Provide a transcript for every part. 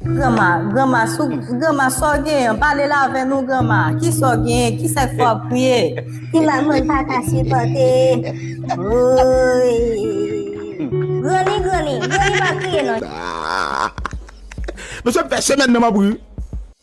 Granma, granma, sou, granma, sa w genyen? Pale l avè nou, granma. Ki sa w genyen? Ki sa k fè w ap kriye? Ti mal mwen pa ka sipòte. Woy! Granny, granny, granny pa kriye non. Mesye m fè semèn nan m ap ri.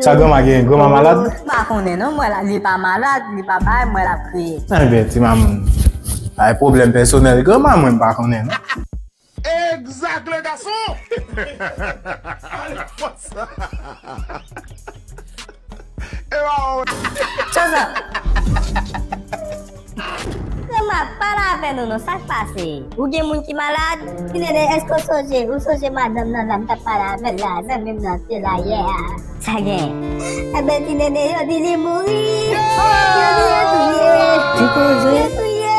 Sa granma gen, granma malad? Mwen pa konnen non, mwen la li pa malad, li pa bay, mwen la kriye. Enben ti mamoun, bay pwoblèm pèsonèl granma mwen pa konnen non. Exact le gason! Alphonse! Ewa ou! Tchozòp! Grandma pale avè nou non sak pase ou gen moun ki malad? Tinene eske w sonje ou sonje madanm nan la m tap pale avè l la zanmi m nan te la yè a. Sa gen. Ebyen ti nene yo di li mouri. Yo di yo touye. Yo touye.